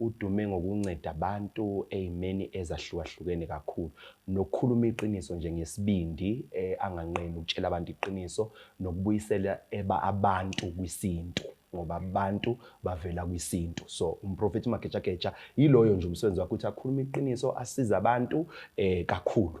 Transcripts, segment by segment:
Udume ngokunceda abantu ey'meni ezahlukahlukene kakhulu nokukhuluma iqiniso nje ngesibindi anganqeni ukutshela abantu iqiniso nokubuyisela eba abantu kwisintu ngoba abantu bavela kwisintu so uMprofethi Magejageja yiloyo nje umsebenzi wakhe ukuthi akhulume iqiniso asize abantu eh kakhulu.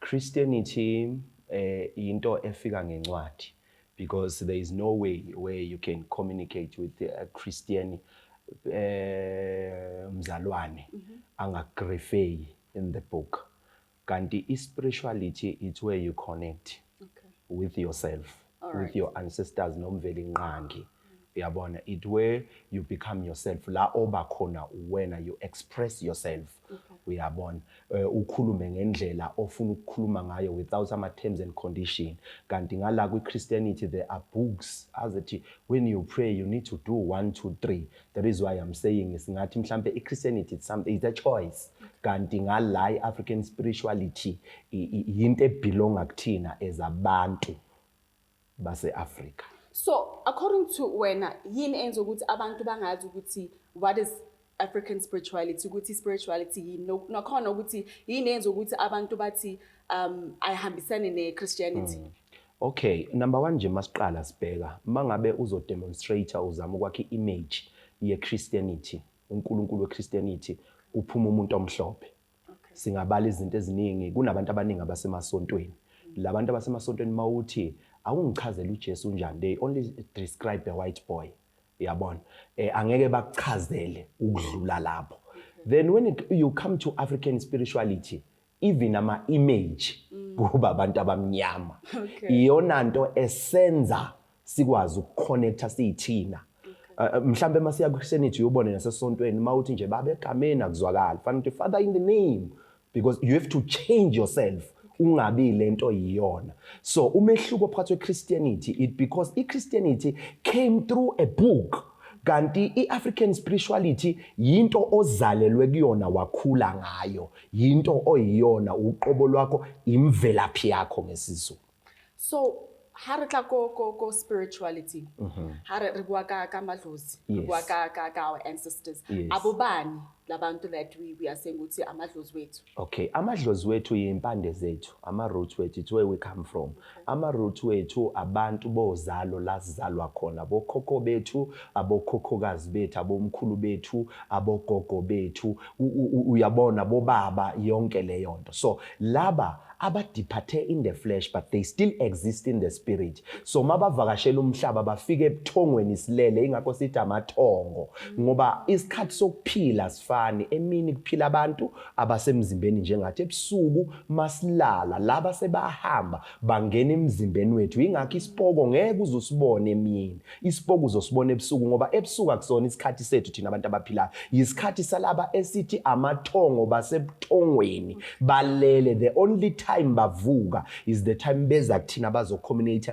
Christianity eh into efika ngencwadi because there is no way where you can communicate with a Christian eh mzalwane mhm. angagrefeyi in the book kanti i spirituality it's where you connect okay. with yourself Alright. with your ancestors nomvelinqangi uyabona it where you become yourself la oba khona uwena you express yourself uyabona Eh, ukhulume ngendlela ofuna ukukhuluma ngayo without ama terms and condition kanti ngala kwi Christianity there are books azithi when you pray you need to do 1 2 3 that is why i'm saying singathi mhlambe i-christianity it's, some, it's a choice kanti ngala i-african spirituality yinto ebelonga kuthina as abantu base-afrika so according to wena yini enza ukuthi abantu bangazi ukuthi what is african spirituality ukuthi spirituality yini nakhona ukuthi yini enza ukuthi abantu bathi um ayihambisane ne-christianity mm. Ok number one nje masiqala sibheka mangabe uzo demonstrator uzama ukwakha i image ye Christianity uNkulunkulu we Christianity kuphuma umuntu omhlophe singabala izinto eziningi kunabantu abaningi abasemasontweni labantu abasemasontweni mawuthi awungichazela uJesu unjani they only describe a white boy yabona eh angeke bakuchazele ukudlula lapho then when it, you come to African spirituality even ama image mm. kuba abantu abamnyama okay. iyona nto esenza sikwazi ukuconnecta siyithina okay. uh, uh mhlambe masiya kusenity uyobone nasesontweni mawuthi nje babe egameni akuzwakali fanele ukuthi father in the name because you have to change yourself ungabi lento yiyona so umehluko phakathi kweChristianity it because iChristianity came through a book kanti iAfrican spirituality yinto ozalelwe kuyona wakhula ngayo Yinto oyiyona uqobo lwakho imvelaphi yakho ngesiZulu. So ha re tla ko ko ko spirituality. Mhm. Ha re re bua ka ka madlozi, re Yes. bua ka ka ka our ancestors. Yes. Abobani labantu that we we are saying ukuthi amadlozi wethu. Okay, amadlozi wethu yimpande zethu, ama roots wethu, it's where we come from. Ama root wethu abantu bozalo la sizalwa khona bokhokho bethu abokhokhokazi bethu abomkhulu bethu abogogo bethu uyabona bobaba yonke leyonto so laba abadiphathe in the flesh but they still exist in the spirit so mabavakashela umhlaba bafike ebuthongweni silele ingakho sithi amathongo ngoba isikhathi sokuphila sifani emini kuphila abantu abasemzimbeni njengathi ebusuku masilala laba sebahamba bangena emzimbeni wethu ingakho isipoko ngeke uzosibone emini isipoko uzosibona ebusuku ngoba ebusuku akusona isikhathi sethu thina abantu abaphilayo yisikhathi salaba esithi amathongo basebuthongweni balele the only time bavuka is the time beza kuthina bazocommute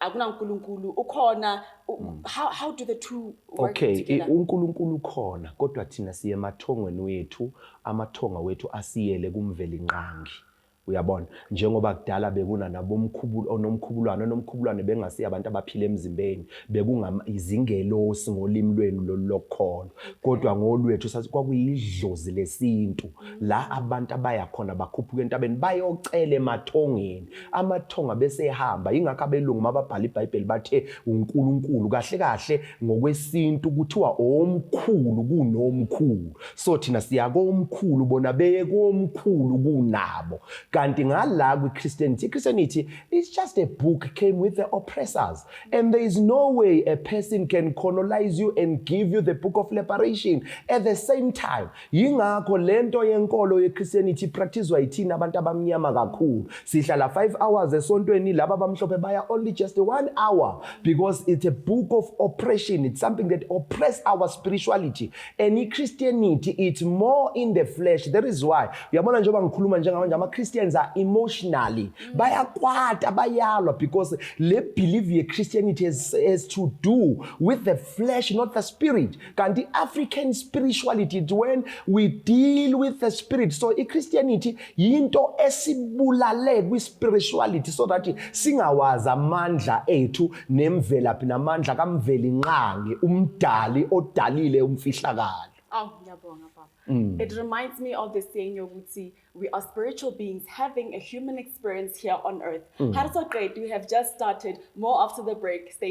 akunankulunkulu ukhona mm. how, how do the two work okay together? unkulunkulu ukhona kodwa thina siye emathongweni wethu amathonga wethu asiyele kumveli nqangi uyabona njengoba kudala bekuna nabomkhubulu onomkhubulwane onomkhubulwane bengasiya abantu abaphila emzimbeni bekungayizingelosi ngolimi lwenu lolokholwa kodwa ngolwethu sathi kwakuyidlozi lesintu la abantu abaya khona bakhuphuka entabeni bayocela emathongeni Amathonga bese ehamba, yingakho abelungu mababhala iBhayibheli bathe uNkulunkulu. Kahle kahle ngokwesintu kuthiwa omkhulu kunomkhulu. So thina siya komkhulu bona beye komkhulu kunabo. Kanti ngala kwiChristianity, iChristianity is just a book came with the oppressors and there is no way a person can colonize you and give you the book of liberation at the same time Yingakho lento yenkolo yeChristianity ipracticewa yithina abantu abamnyama kakhulu. Sihlala 5 hours esontweni laba abamhlophe baya only just 1 hour because it's a book of oppression. It's something that oppress our spirituality. And iChristianity it's more in the flesh. That is why uyabona njengoba ngikhuluma njengamanje ama Christians are emotionally. Mm. Bayakwata bayalwa because le belief yeChristianity has, has to do with the flesh not the spirit. kanti i-african spirituality it when we deal with the spirit so i-christianity yinto esibulale kwi-spirituality so that singawazi amandla ethu nemvelaphi namandla kamveli nqangi umdali odalile umfihlakalo Oh, ngiyabonga baba. Mm. It reminds me of the saying yokuthi we are spiritual beings having a human experience here on earth. Mm. How does it we have just started more after the break. Stay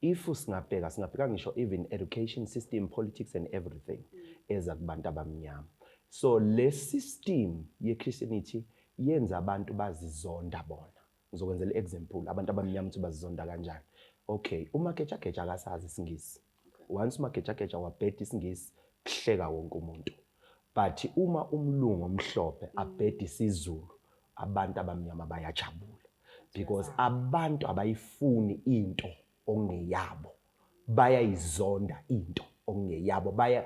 If singabheka singabheka ngisho even education system politics and everything eza kubantu abamnyama. So le system ye Christianity yenza abantu bazizonda bona. Ngizokwenzela example abantu abamnyama ukuthi bazizonda kanjani. Okay, uma kecha kecha akasazi isingisi. Once uma kecha kecha wabheda isingisi kuhleka wonke umuntu. But uma umlungu omhlophe abheda isizulu abantu abamnyama bayajabula because abantu abayifuni into ongeyabo bayayizonda into ongeyabo baya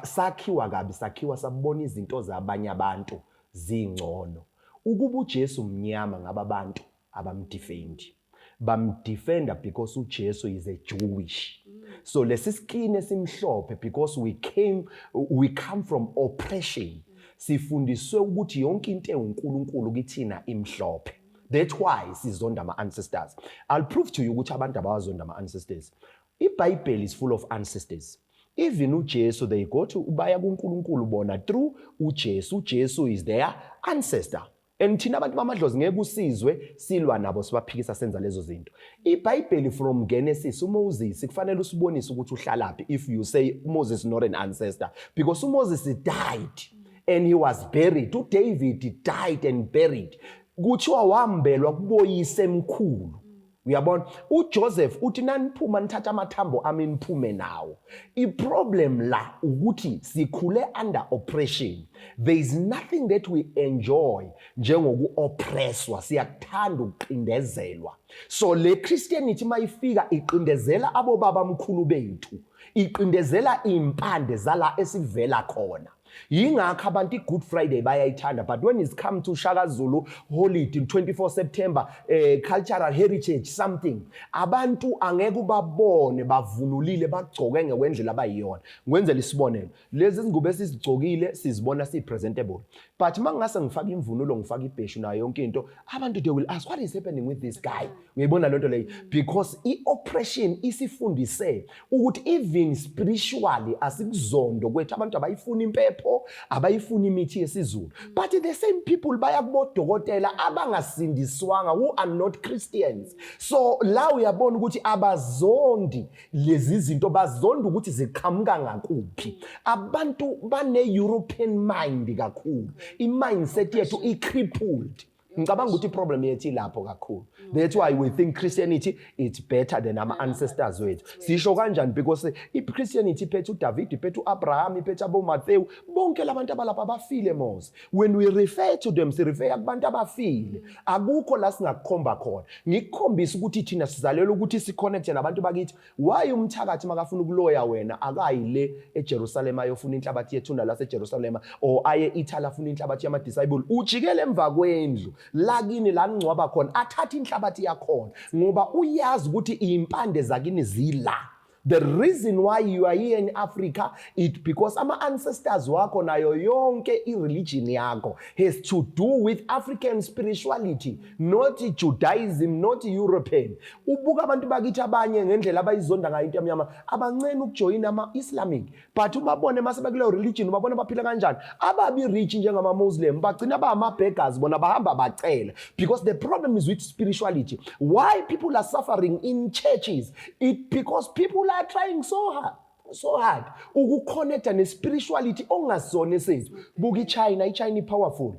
sakhiwa kabi sakhiwa sabona izinto zabanye abantu zingcono ukuba uJesu mnyama ngaba abantu abamdefendi bamdefenda because uJesu is a Jewish so lesi skin esimhlophe because we came we come from oppression sifundiswe ukuthi yonke into ewuNkulunkulu kithina imhlophe that's why sizonda ama ancestors i'll prove to you ukuthi abantu abawazonda ama ancestors ibhayibheli is full of ancestors even uJesu they go to baya kuNkulunkulu bona through uJesu uJesu is their ancestor and thina abantu bamadlozi ngeke kusizwe silwa nabo sibaphikisa senza lezo zinto ibhayibheli from genesis umoses kufanele usibonise ukuthi uhlalaphi if you say moses not an ancestor because umoses died and he was buried udavid died and buried kuthiwa wambelwa kuboyise emkhulu uyabona ujoseph uthi naniphuma nithatha amathambo ami niphume nawo iproblem la ukuthi sikhule under oppression there is nothing that we enjoy njengoku-oppresswa siyakuthanda ukuqindezelwa so le christianity uma ifika iqindezela abobabamkhulu bethu iqindezela iy'mpande zala esivela khona Yingakho abantu i-Good Friday bayayithanda but when it's come to Shaka Zulu holiday 24 September eh, cultural heritage something abantu angeke ubabone bavunulile bagcoke ngekwendlela abayiyona ngikwenzela isibonelo lezi zingubo esizigcokile sizibona si-presentable but uma ngingase ngifake imvunulo ngifake ibheshu nayo yonke into abantu they will ask what is happening with this guy Uyayibona lento leyo because ioppression isifundise ukuthi even spiritually asikuzondo kwethu abantu abayifuni impepho abayifuni imithi yesizulu but the same people baya kubodokotela abangasindiswanga who are not Christians so la uyabona ukuthi abazondi lezi zinto bazonda ukuthi ziqhamuka ngakuphi abantu bane European mind kakhulu i mindset yethu i crippled ngicabanga ukuthi iproblem yethu ilapho kakhulu that's why we think christianity it's better than ama ancestors wethu sisho kanjani because ichristianity iphethe udavid iphethe uabraham iphethe abomathewu bonke labantu abalapha bafile mos when we refer to them sirefeya kubantu abafile akukho la singakukhomba khona ngikukhombisa ukuthi thina sizalelwe ukuthi siconnecte nabantu bakithi Why umthakathi makafuna ukuloya wena akayi le eJerusalem ayofuna inhlabathi yethuna laseJerusalem or aye Italy afuna inhlabathi yama disciple ujikele emva kwendlu lakini la ngcwaba khona athatha inhlabathi yakhona ngoba uyazi ukuthi impande zakini zila The reason why you are here in Africa it because ama ancestors wakho nayo yonke i religion yakho has to do with African spirituality not Judaism not European ubuka abantu bakithi abanye ngendlela abayizonda ngayo into yamnyama abancene ukujoyina ama Islamic but ubabone mase bakuleyo religion ubabona baphila kanjani ababi rich njengama Muslim bagcina ba ama beggars bona bahamba bacela because the problem is with spirituality why people are suffering in churches it because people are trying so hard so hard ukuconnecta nespirituality ongasizona esizwe buka ichina ichina ipowerful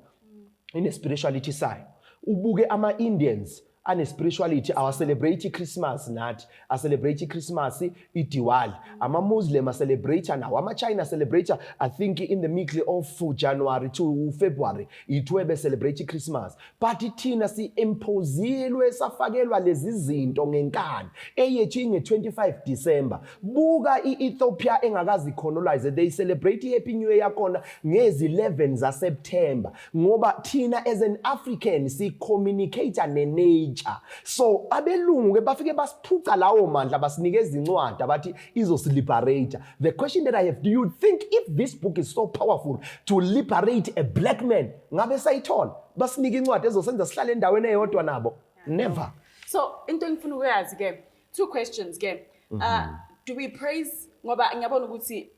ine spirituality sayo ubuke ama Indians ane spirituality awa celebrate Christmas nathi a celebrate Christmas iDiwali ama Muslim a celebrate nawo ama China celebrate I think in the middle of January to February ithiwe be celebrate Christmas but thina si imposilwe safakelwa lezi zinto ngenkani eyethu inge 25 December Buka i-Ethiopia engakazi colonize they celebrate i-happy new year yakhona ngezi-11 zaseptemba ngoba thina as an african si-communicate ne-nature so abelungu-ke bafike basiphuca lawo mandla basinike ezincwadi abathi izosiliberate the question that i have do you think if this book is so powerful to liberate a black man ngabe sayithola basinike incwadi ezosenza sihlale endaweni eyodwa nabo never so into engifuna ukuyazi-ke two questions ke uh, mm-hmm. do we praise ngoba ngiyabona ukuthi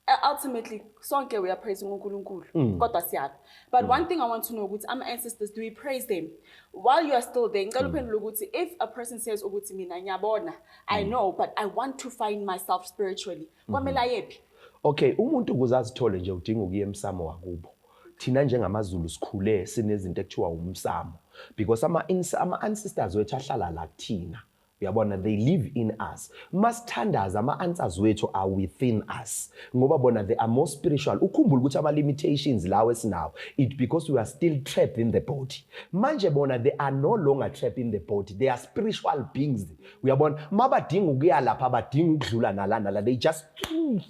uh, ultimately sonke we are praising uNkulunkulu mm. kodwa siyapha but mm. one thing i want to know ukuthi ama ancestors do we praise them while you are still there ngicela mm. uphendule ukuthi if a person says ukuthi mina ngiyabona i mm. know but i want to find myself spiritually kwamele ayephi Okay, umuntu ukuze azithole nje udinga ukuya emsamo wakubo. Thina njengamaZulu sikhule sinezinto ekuthiwa umsamo because ama ama ancestors wethu ahlala la kuthina. Uyabona they live in us. Masithandaza ama answers wethu are within us. Ngoba bona they are more spiritual. Ukhumbula ukuthi ama limitations lawo esinawo it because we are still trapped in the body. Manje bona they are no longer trapped in the body. They are spiritual beings. uyabona uma badinga ukuya lapha abadinga ukudlula nala nala they just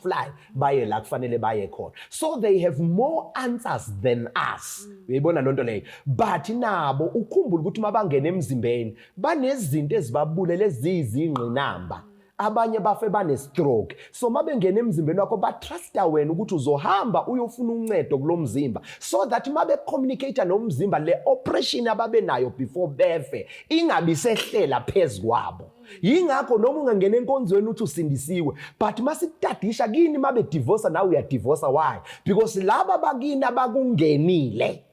fly baye la kufanele baye khona so they have more answers than us mm. uyayibona loo nto leyo but nabo ukhumbula ukuthi uma bangena emzimbeni banezinto ezibabulele eziyizingqinamba abanye bafe banestroke so uma bengena emzimbeni wakho batrusta wena ukuthi uzohamba uyofuna uncedo kulo mzimba so that uma becommunicate nomzimba le operation ababe nayo before befe ingabi sehlela phezu kwabo yingakho noma ungangena enkonzweni uthi usindisiwe but uma sikutadisha kini uma bedivosa nawe uyadivosa why because laba bakini abakungenile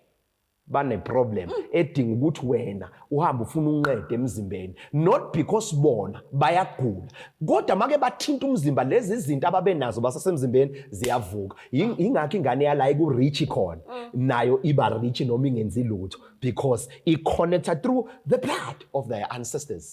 baneproblem mm. edinga ukuthi wena uhambe ufuna unqede emzimbeni not because bona bayagula kodwa make bathinta umzimba lezi zinto ababenazo basasemzimbeni ziyavuka ingakho ingane yala ikurich khona mm. nayo iba rich noma ingenzi lutho because i-connecta through the blood of their ancestors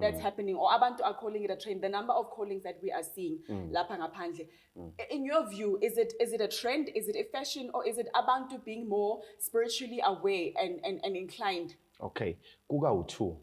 that's mm. happening or abantu are calling it a trend the number of callings that we are seeing mm. lapha ngaphandle mm. in your view is it is it a trend is it a fashion or is it abantu being more spiritually aware and and, and inclined okay kuka u2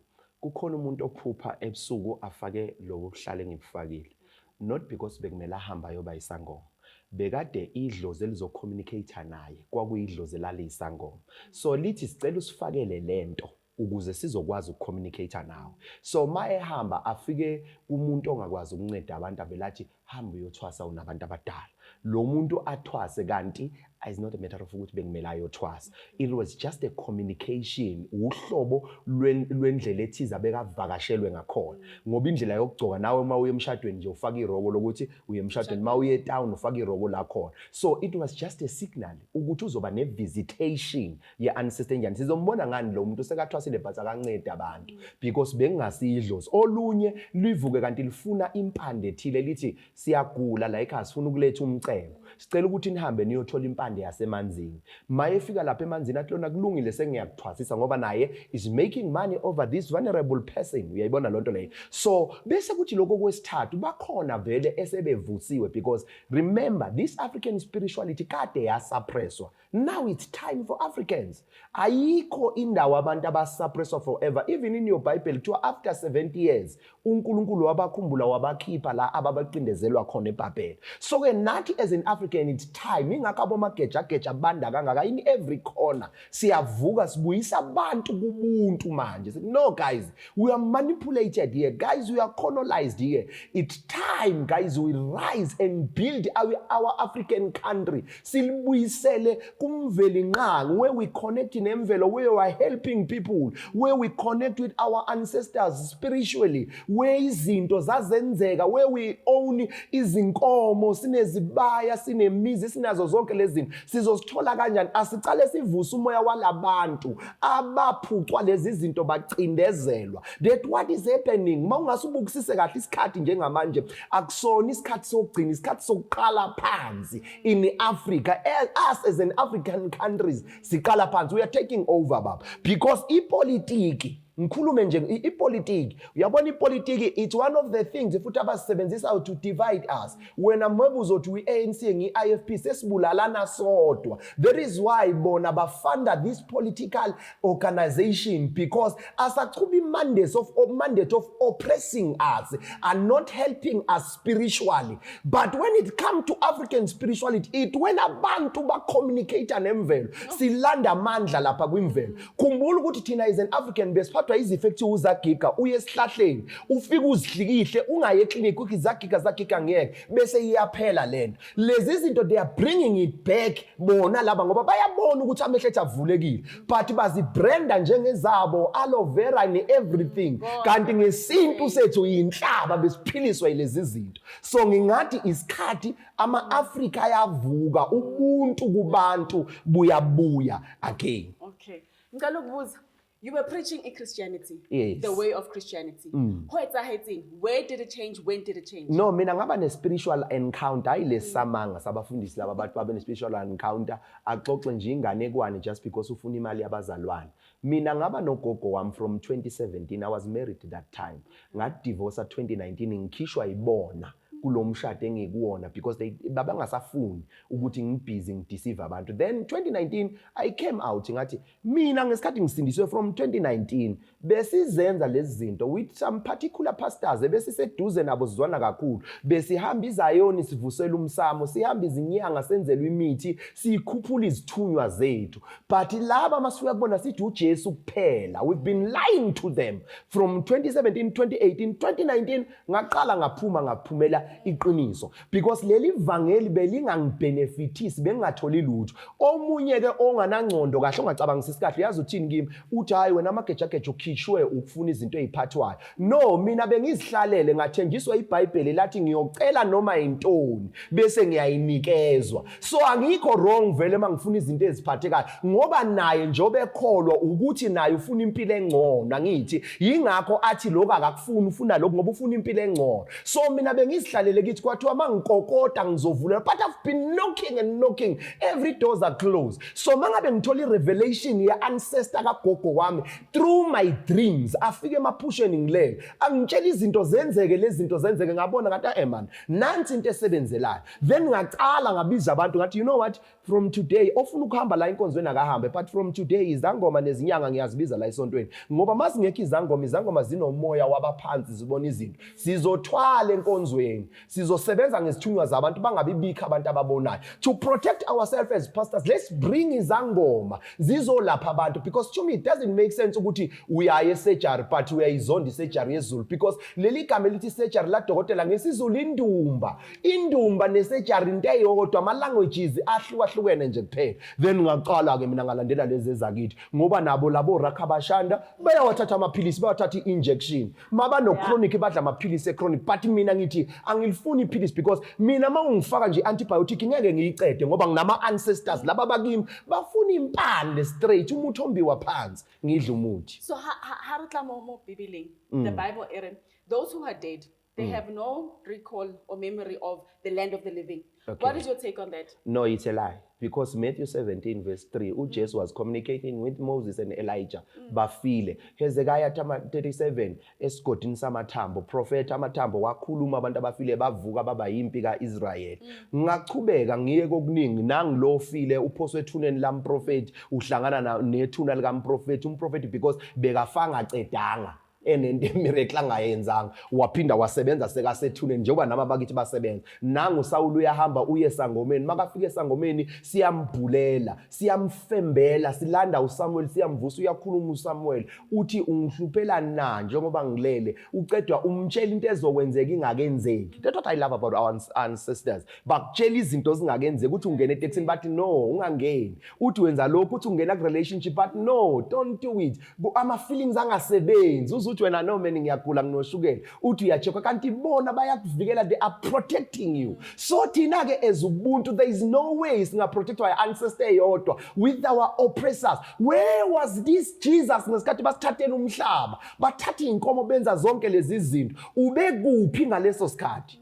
kukhona umuntu ophupha ebusuku afake lobo kuhlale ngibufakile not because bekumele ahamba ayoba isangoma bekade idlozi elizocommunicate naye kwakuyidlozi elaliyisangoma so lithi sicela usifakele lento ukuze sizokwazi ukucommunicate nawe so ma ehamba afike kumuntu ongakwazi ukunceda abantu abelathi hamba uyothwasa unabantu abadala lo muntu athwase kanti is not a matter of ukuthi bekumele ayothwasa it was just a communication uhlobo lwendlela ethize abekavakashelwe ngakhona ngoba indlela yokugcoka nawe uma uye emshadweni nje ufaka iroko lokuthi uye emshadweni uma uye etown ufaka iroko lakhona so it was just a signal ukuthi uzoba ne visitation ye unsustainable sizombona ngani lo muntu sekathwasile but akancedi abantu because bengingasidlozi olunye livuke kanti lifuna impande ethile lithi siyagula la ekhaya sifuna ukuletha umcebo sicela ukuthi nihambe niyothola impande yasemanzini maye fika lapha emanzini athi lona kulungile sengiyakuthwasisa ngoba naye is making money over this vulnerable person uyayibona lonto leyo so bese kuthi lokho kwesithathu bakhona vele esebevusiwe because remember this African spirituality kade yasuppresswa Now it's time for Africans. Ayikho indawo abantu abasuppresswa forever. Even in your Bible kuthiwa after 70 years uNkulunkulu wabakhumbula wabakhipha la ababacindezelwa khona eBhabhela. So ke nathi as an African it's time ingakho abomageja geja banda kangaka in every corner. Siyavuka sibuyisa abantu kubuntu manje. No guys, we are manipulated here. Guys, we are colonized here. It's time guys we rise and build our, our African country. silibuyisele kumveli nqangi where we connect nemvelo where we are helping people where we connect with our ancestors spiritually where izinto zazenzeka where we own izinkomo sinezibaya sinemizi sinazo zonke lezi zinto sizosithola kanjani asicale sivuse umoya walabantu abaphucwa lezi zinto bacindezelwa that what is happening uma ungasubukisise kahle isikhathi njengamanje akusona isikhathi sokugcina isikhathi sokuqala phansi in Africa as us as an African countries siqala phansi we are taking over baba because ipolitiki ngikhulume nje ipolitiki uyabona ipolitiki it's one of the things futhi abasebenzisa to divide us wena mwebu uzothi uyi-anc ngiyi-ifp sesibulalana sodwa there is why bona bafunda this political organization because asachubi mandates of or mandate of oppressing us are not helping us spiritually but when it come to african spirituality it when abantu bacommunicate nemvelo silanda amandla lapha kwimvelo khumbula ukuthi thina is an african besiphathwa izifo ekuthiwa uzagiga uye esihlahleni ufike uzihlikihle ungaye eclinic ukhi zagiga zagiga ngeke bese iyaphela lento lezi zinto they are bringing it back bona laba ngoba bayabona ukuthi amehlo ethu avulekile but bazibranda njengezabo aloe vera ne-everything mm, kanti ngesintu sethu yinhlaba besiphiliswa yilezi zinto so ngingathi isikhathi ama-afrika ayavuka ubuntu kubantu buyabuya again okay ngicela ukubuza You were preaching in Christianity. Yes. The way of Christianity. Mm. Ho etsahetseng? Where did it change? When did it change? No, mina ngaba ne spiritual encounter hayi lesamanga mm. sabafundisi laba abantu babe ne spiritual encounter axoxe nje inganekwane just because ufuna imali yabazalwane. Mina ngaba nogogo wami from 2017 I was married that time. Ngadivorce 2019 ngikhishwa ibona. Mm. kulo mshado engikuwona because they babangasafuni ukuthi ngibhizi ngideceive abantu then 2019 i came out ngathi mina ngesikhathi ngisindiswe from 2019 besizenza lezi zinto with some particular pastors ebesiseduze nabo sizwana kakhulu besihamba izayoni sivusela umsamo sihamba izinyanga senzelwa imithi sikhuphula izithunywa zethu but laba masifika kubona sithi uJesu kuphela we've been lying to them from 2017 2018 2019 ngaqala ngaphuma ngaphumela iqiniso because leli vangeli belingangibhenefithisi bengingatholi lutho omunye ke onganangcondo kahle ongacabangisisi kahle uyazi uthini kimi uthi hayi wena amagejageja ukhishwe ukufuna izinto eziphathwayo no mina bengizihlalele ngathenjiswa ibhayibheli lathi ngiyocela noma yintoni bese ngiyayinikezwa so angikho wrong vele uma ngifuna izinto eziphathekayo ngoba naye njengoba ekholwa ukuthi naye ufuna impilo engcono angithi yingakho athi lokhu akakufuni ufuna lokhu ngoba ufuna impilo engcono so mina bengizihlalele kithi kwathiwa uma ngikokota ngizovula but i've been knocking and knocking every doors are closed so uma ngabe ngithola i-revelation ye-ancestor kagogo wami through my dreams afike emaphusheni ngilele angitshela izinto zenzeke lezi zinto zenzeke ngabona ngathi ae eh, man nansi into esebenzelayo then ngacala ngabiza abantu ngathi you know what from today ofuna ukuhamba la enkonzweni akahambe but from today izangoma nezinyanga ngiyazibiza la esontweni ngoba uma zingekho izangoma izangoma zinomoya wabaphansi zibona izinto sizothwala enkonzweni sizosebenza ngezithunywa zabantu bangabibikho abantu ababonayo to protect ourselves as pastors let's bring izangoma zizolapha abantu because to me it doesn't make sense ukuthi uyaye esejari but uyayizonda isejari yezulu because leli gama elithi isejari ladokotela ngesizulu indumba indumba nesejari into eyodwa ama-languages ahlukahlukene nje kuphela then ngaqala-ke mina ngalandela lezi ezakithi ngoba nabo labo rakhabashanda bayawathatha amaphilisi bayawathatha i-injection mabano-chronic badla amaphilisi e-chronic but mina ngithi angilifuni iphilisi because mina uma ungifaka nje i-antibiotic ngeke ngiyicede ngoba nginama-ancestors laba bakimi bafuna impande straight umuthi ombiwa phansi ngidla umuthi so ha, ha, ha re tla mo mo bibeleng the mm. bible e re those who are dead They mm. have no recall or memory of the land of the living. Okay. What is your take on that? No, it's a lie. Because Matthew 17 verse 3, mm. Jesus was communicating with Moses and Elijah. Mm. Bafile. Hezekiah 37, esigodini samathambo. Profeta amathambo wakhuluma abantu abafile bavuka baba yimpi ka-Israyeli. Mm. Ngachubeka ngiye kokuningi nangilo ofile uphoswe ethuneni lamprofethi uhlangana nethuna likamprofethi umprofethi because bekafanga cedanga. enento emiracle angayenzanga waphinda wasebenza sekasethuneni njengoba nami abakithi basebenza nangu usawula uyahamba uye esangomeni makafika esangomeni siyambhulela siyamfembela silanda usamuweli siyamvusa uyakhuluma usamuweli uthi ungihluphela na njengoba ngilele ucedwa umtshela into ezokwenzeka ingakenzeki that's what i love about our ancestors bakutshela izinto ezingakenzeki ukuthi ungena etekisini bathi no ungangeni uthi wenza lokhu uthi ungena ku-relationship but no don't do it ama-feelings angasebenzi uze uthi wena no mani ngiyagula nginoshukela uthi uyacheckwa kanti bona bayakuvikela they are protecting you so thina-ke as ubuntu there is no way singaprotectwa i-ancestor eyodwa with our oppressors where was this jesus ngesikhathi basithathela umhlaba bathatha iy'nkomo benza zonke lezi zinto ubekuphi ngaleso sikhathi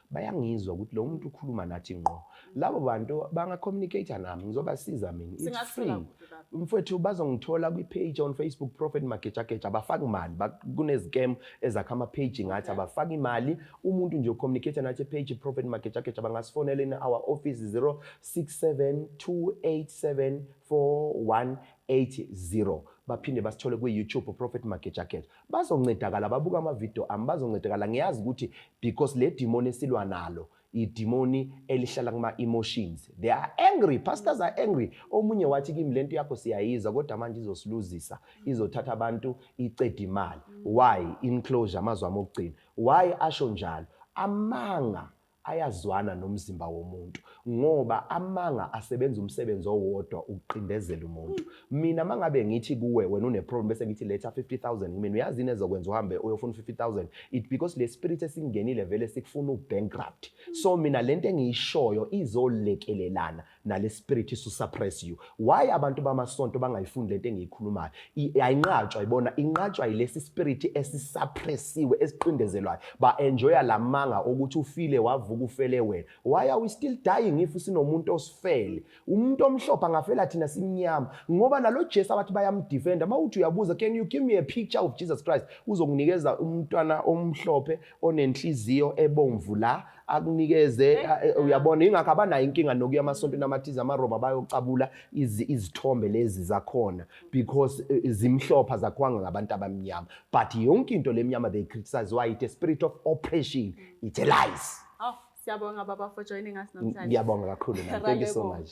bayangizwa ukuthi lo muntu ukhuluma nathi ngqo labo bantu bangacommunicate nami ngizobasiza mina it's free mfowethu bazongithola kwi-page on facebook prophet magejageja abafaki imali kunezikemu ezakha ama-page ngathi abafaki imali umuntu nje ucommunicate nathi page prophet magejageja bangasifonela in our office 067 287 4180 baphinde basithole kwi-youtube prophet magejageja bazoncedakala babuka amavidiyo ami bazoncedakala ngiyazi ukuthi because le dimoni esilwa nalo idimoni elihlala kuma-emotions they are angry pastors are angry omunye wathi kimi le nto yakho siyayizwa kodwa manje izosiluzisa izothatha abantu iceda imali why inclosure amazwi ami okugcina why asho njalo amanga ayazwana nomzimba womuntu ngoba amanga asebenza umsebenzi owodwa ukuqindezela umuntu mina mangabe ngithi kuwe wena une problem bese ngithi letha 50000 kumina uyazi into ezokwenza uhambe uyofuna 50000 it because le spirit esingenile vele sikufuna ubankrupt so mina lento engiyishoyo izolekelelana nale spirit isu suppress you why abantu bamasonto bangayifundi lento engiyikhulumayo ayinqatshwa ibona inqatshwa yilesi spirit esisuppressiwe esiqindezelwayo ba enjoya lamanga ukuthi ufile wavuka ufele wena why are we still dying if sinomuntu osifele umuntu omhlophe angafela thina simnyama ngoba nalo Jesu abathi bayamdefenda mawuthi uyabuza can you give me a picture of Jesus Christ uzokunikeza umntwana omhlophe onenhliziyo ebomvu la akunikeze uyabona ingakho abanayo inkinga nokuya amasontweni amathize amaroma bayocabula izithombe lezi zakhona because e, e, zimhlopha zakhwanga ngabantu abamnyama but yonke into lemnyama they criticize why it a spirit of oppression it's a lies oh, siyabonga baba for joining us namhlanje ngiyabonga kakhulu thank you so much